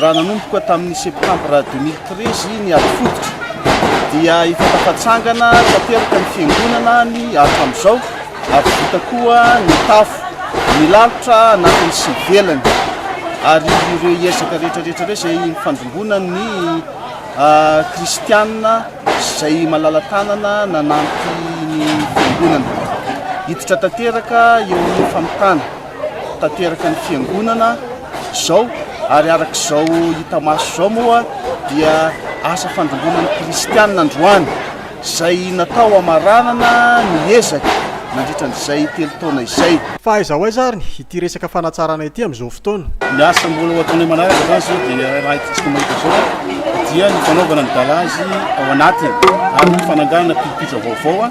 Raha nanomboka tamin'ny Septambra deux mille treize ny ady fototra dia efa tafatsangana tanteraka ny fiangonana ny hatramin'izao ary vita koa ny tafo, ny lalitra anatiny sy ivelany ary ireo ezaka rehetrarehetra ireo izay nifandrimbona ny kristiana izay malala-tanana nanampy ny fiangonana hiditra tanteraka eo amin'ny famitana. tanteraka ny fiangonana izao ary araka izao hita maso izao moa dia asa fandrombona ny kristianina androany izay natao amaranana ny ezaka nandritra an'izay telo taona izay. Fa aiza ho aiza ary ity resaka fanatsarana ity amin'izao fotoana? Ny asa mbola ho ataonay manaraka izany izao dia raha hitantsika mahita izao dia ny fanaovana ny galazy ao anatiny ary ny fananganana pilipitra vaovao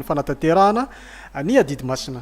fanatanterahana ny adidy masina.